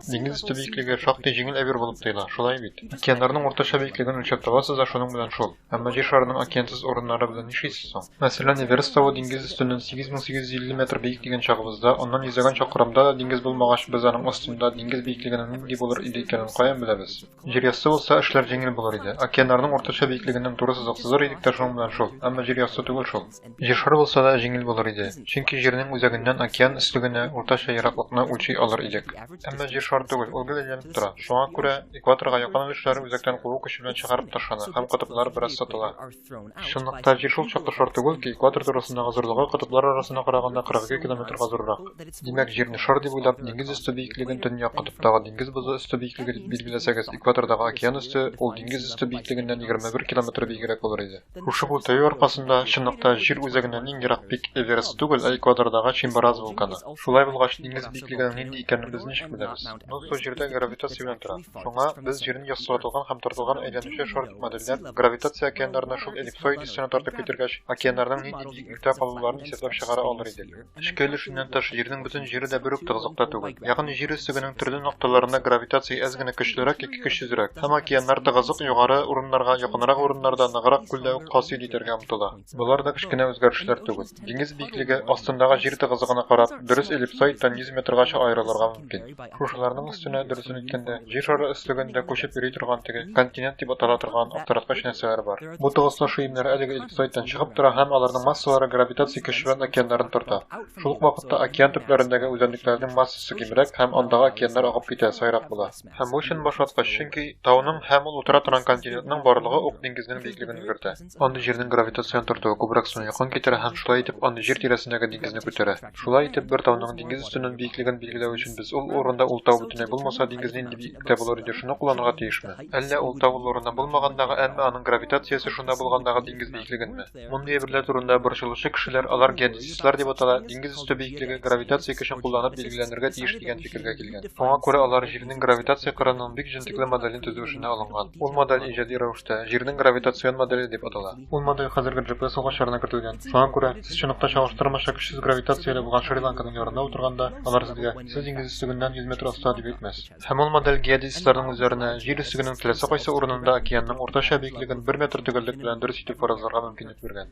Диңгез өсте биеклеге шактый җиңел әйбер булып тоела, шулай бит? Океаннарның уртача биеклеген үлчәп табасыз да шуның белән шул. Әмма җир шарының океансыз урыннары белән нишлисез соң? Мәсәлән, Эверест тавы диңгез өстеннән 8850 метр биек дигән чагыбызда, аннан йөзәгән чакрымда да диңгез булмагач, без аның астында диңгез биеклегенең нинди булыр иде икәнен каян беләбез? Җир ясты булса, эшләр җиңел булыр иде. Океаннарның уртача биеклегеннән туры сызык сызыр идек тә шуның белән шул. Әмма җир ясты түгел шул. Җыршар булса да җиңел булыр иде, чөнки җирнең үзәгеннән океан өслегенә уртача ераклыкны үлчи алыр идек. Әмма җир шар түгел, ул гел әйләнеп тора. Шуңа күрә экваторга якын өлешләре үзәктән куу көче белән чыгарып ташлана һәм котыплар бераз сытыла. Чынлыкта җир шул чаклы шар түгел ки, экватор турысындагы зурлыгы котыплар арасына караганда 42 километрга зуррак. Димәк, җирне шар дип уйлап, диңгез өсте биеклеген төньяк котыптагы диңгез бозы өсте биеклеге дип билгеләсәгез, экватордагы океан өсте ул диңгез өсте биеклегеннән 21 километр биегрәк булыр иде. Шушы бу тәю аркасында чынлыкта җир үзәгеннән иң ерак пик Эверест түгел, ә Эквадордагы Чимбараз вулканы. Шулай булгач, диңгез биеклегенең нинди икәнен без ничек беләбез? Ну, су җирдә гравитация белән тора. Шуңа без җирне яссыратылган һәм тартылган әйләнүче шар дип модельләп, гравитация океаннарны шул эллипсоид өстенә тартып китергәч, океаннарның нинди биеклектә калуларын исәпләп чыгара алыр идек. Эчке өлешеннән тыш, Җирнең бөтен җире дә бер үк тыгызлыкта түгел. Ягъни Җир өстегенең төрле нокталарында гравитация әз генә көчлерәк яки көчсезрәк, һәм океаннар тыгызлык югары урыннарга, якынрак урыннарда, ныграк күлдә үк хасил итәргә омтыла. Болар да кечкенә үзгәрешләр түгел. Диңгез биеклеге, астындагы җир тыгызлыгына карап, дөрес эллипсоид тонизометргача аерылырга мөмкин. Шушыларның өстенә, дөресен әйткәндә, җир шары өслегендә күчеп йөри торган теге континент дип атала торган аптыраткыч нәрсәләр бар. Бу тыгызлашу имнәре әлеге эллипсоидтан чыгып тора һәм аларның массалары гравитация көче белән океаннарын төртә. Шул ук вакытта океан төпләрендәге үзәнлекләрнең массасы кимрәк һәм андагы океаннар агып китә, саерак була. Һәм бу чын башлаткыч, чөнки тауның һәм ул утыра торган континентның барлыгы ук диңгезнең биеклеген өлгертә. Андый җирнең гравитацион тартуы күбрәк суны якын китерә һәм шулай итеп андый җир тирәсендәге диңгезне күтәрә. Шулай итеп, бер тауның диңгез өстеннән биеклеген билгеләү өчен без ул урында ул тау бөтенләй булмаса диңгез нинди биеклектә булыр иде шуны кулланырга тиешме? Әллә ул тау ул урында булмагандагы, әмма аның гравитациясе шунда булгандагы диңгез биеклегенме? Мондый әйберләр турында борчылучы кешеләр, алар геодезистлар дип атала, диңгез өсте биеклеге гравитация көчен кулланып билгеләнергә тиеш дигән фикергә килгән. Шуңа күрә алар җирнең гравитация кырының бик җентекле моделен төзү эшенә алынган. Ул модель иҗади рәвештә җирнең гравитацион модели дип атала. Ул модель хәзерге GPS угычларына кертелгән. Шуңа күрә, сез чынлыкта чагыштырмача көчсез гравитацияле булган Шри-Ланканың ярында утырганда, алар сезгә, сез диңгез өслегеннән 100 метр аста, дип әйтмәс. Һәм ул модель геодезистларның үзләренә җир өслегенең теләсә кайсы урынында океанның уртача биеклеген бер метр төгәллек белән дөрес итеп фаразларга мөмкинлек биргән.